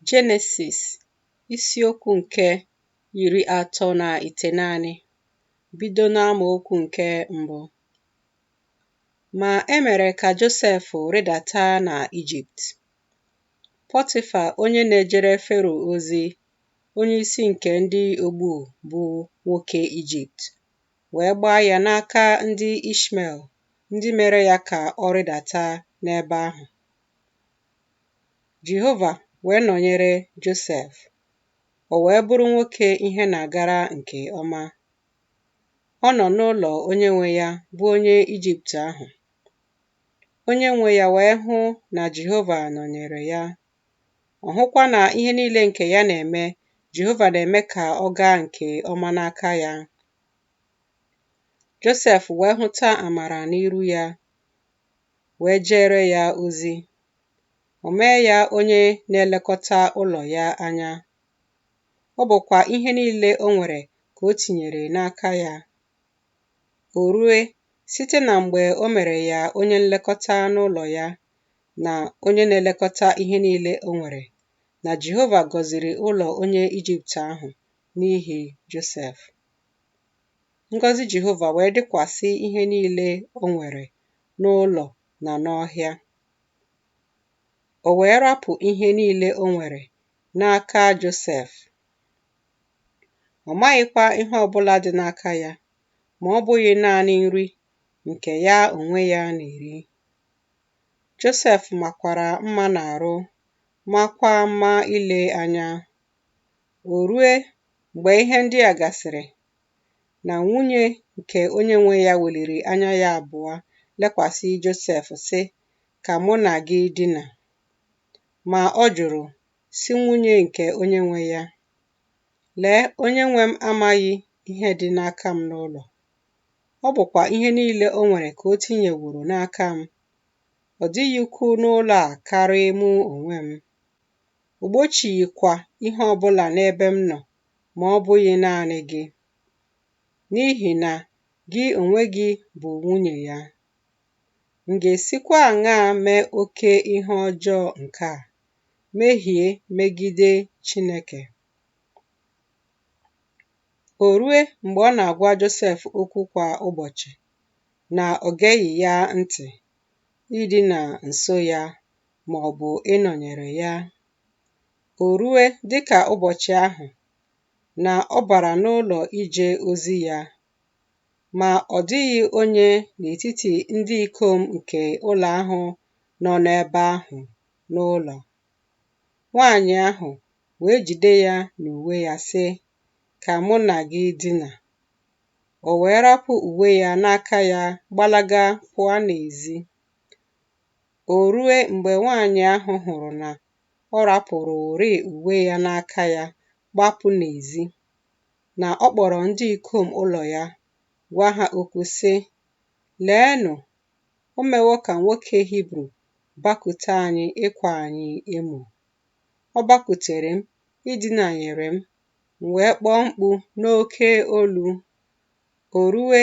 Jenesis isiokwu nke iri atọ na ite naanị bido n'amaokwu nke mbụ. Ma e mere ka Josef rịdata na Ijipt. Pọtịfa onye na-ejere Fero ozi, onye isi nke ndị ogbu bụ nwoke Ijipt, wee gbaa ya n'aka ndị Ishmel, ndị mere ya ka ọ rịdata n'ebe ahụ. Jehova wee nọnyere Josef, o wee bụrụ nwoke ihe na-agara nke ọma. Ọ nọ n'ụlọ onye nwe ya, bụ onye Ijipt ahụ. Onye nwe ya wee hụ na Jehova nọnyere ya. Ọ hụkwa na ihe niile nke ya na-eme, Jehova na-eme ka ọ gaa nke ọma n'aka ya. Josef wee hụta amara n'iru ya, wee jeere ya ozi. O mee ya onye na-elekọta ụlọ ya anya. Ọ bụkwa ihe niile o nwere ka o tinyere n'aka ya. O rue, site na mgbe o mere ya onye nlekọta n'ụlọ ya na onye na-elekọta ihe niile o nwere, na Jehova gọziri ụlọ onye Ijipt ahụ n'ihi Josef. Ngọzi Jehova wee dịkwasị ihe niile o nwere n'ụlọ na n'ọhịa. O wee rapụ ihe niile o nwere n'aka Josef. Ọ maghịkwa ihe ọ bụla dị n'aka ya ma ọ bụghị naanị nri nke ya onwe ya na-eri. Josef makwara mma n'arụ, maakwa mma ile anya. O rue mgbe ihe ndị a gasịrị na nwunye nke onye nwe ya weliri anya ya abụọ lekwasị Josef sị, Ka mụ na gị dina. Ma ọ jụrụ, sị nwunye nke onye nwe ya, Lee, onye nwe m amaghị ihe dị n'aka m n'ụlọ. Ọ bụkwa ihe niile o nwere ka o tinyeworo n'aka m. Ọ dịghị ukwu n'ụlọ a karị mụ onwe m. O gbochighịkwa ihe ọ bụla n'ebe m nọ ma ọ bụghị naanị gị, n'ihi na gị onwe gị bụ nwunye ya. M ga-esikwa aṅaa mee oke ihe ọjọọ nke a, mehie megide Chineke? O rue mgbe ọ na-agwa Josef okwu kwa ụbọchị na o geghị ya ntị, idina nso ya ma ọ bụ ịnọnyere ya. O rue dị ka ụbọchị ahụ na ọ bara n'ụlọ ije ozi ya, ma ọ dịghị onye n'etiti ndị ikom nke ụlọ ahụ nọ n'ebe ahụ n'ụlọ. Nwanyị ahụ wee jide ya n'uwe ya sị, Ka mụ na gị dina. O wee rapụ uwe ya n'aka ya gbalaga pụa n'ezi. O rue mgbe nwanyị ahụ hụrụ na ọ rapụrụrị uwe ya n'aka ya gbapụ n'ezi, na ọ kpọrọ ndị ikom ụlọ ya, gwa ha okwu, sị, Leenụ, o mewo ka nwoke Hibru bakute anyị ịkwa anyị emo. Ọ bakutere m, idinanyere m, m wee kpọọ mkpu n'oke olu. O rue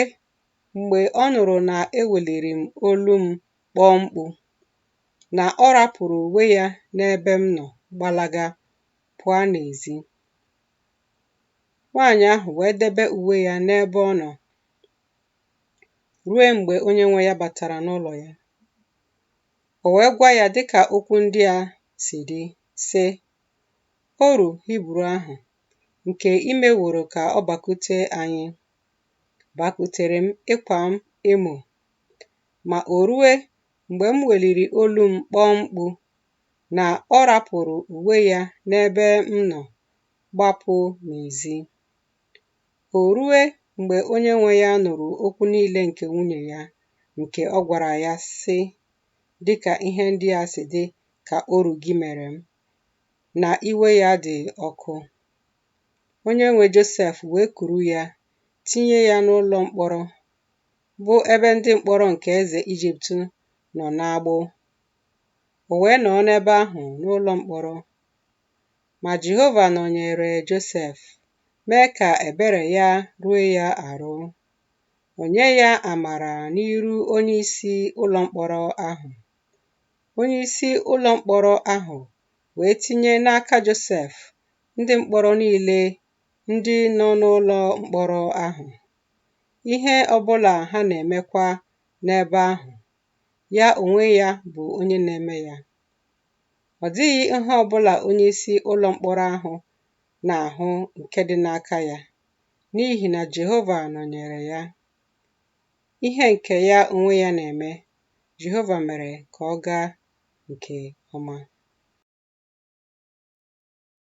mgbe ọ nụrụ na eweliri m olu m kpọọ mkpu, na ọ rapụrụ uwe ya n'ebe m nọ gbalaga pụa n'ezi. Nwaanyị ahụ wee debe uwe ya n'ebe ọ nọ rue mgbe onye nwe ya batara n'ụlọ ya. O wee gwa ya dịka okwu ndị a si dị, sị, Oru Hibru ahụ nke i meworo ka ọ bakute anyị, bakutere m ịkwa m emo. Ma o rue mgbe m weliri olu m kpọọ mkpu na ọ rapụrụ uwe ya n'ebe m nọ gbapụ n'ezi. O rue mgbe onye nwe ya nụrụ okwu niile nke nwunye ya nke ọ gwara ya sị, Dịka ihe ndị a si dị ka oru gị mere m, na iwe ya dị ọkụ. Onye nwe Josef wee kuru ya tinye ya n'ụlọ mkpọrọ bụ ebe ndị mkpọrọ nke eze Ijipt nọ n'agbụ. O wee nọọ n'ebe ahụ n'ụlọ mkpọrọ. Ma Jehova nọnyere Josef, mee ka ebere ya ruo ya arụ. O nye ya amara n'iru onyeisi ụlọ mkpọrọ ahụ. Onyeisi ụlọ mkpọrọ ahụ wee tinye n'aka Josef ndị mkpọrọ niile ndị nọ n'ụlọ mkpọrọ ahụ. ihe ọbụla ha na-emekwa n'ebe ahụ, ya onwe ya bụ onye na-eme ya. Ọ dịghị ihe ọbụla onye isi ụlọ mkpọrọ ahụ na-ahụ nke dị n'aka ya, n'ihi na Jehova nọnyere ya. Ihe nke ya onwe ya na-eme, Jehova mere ka ọ gaa nke ọma.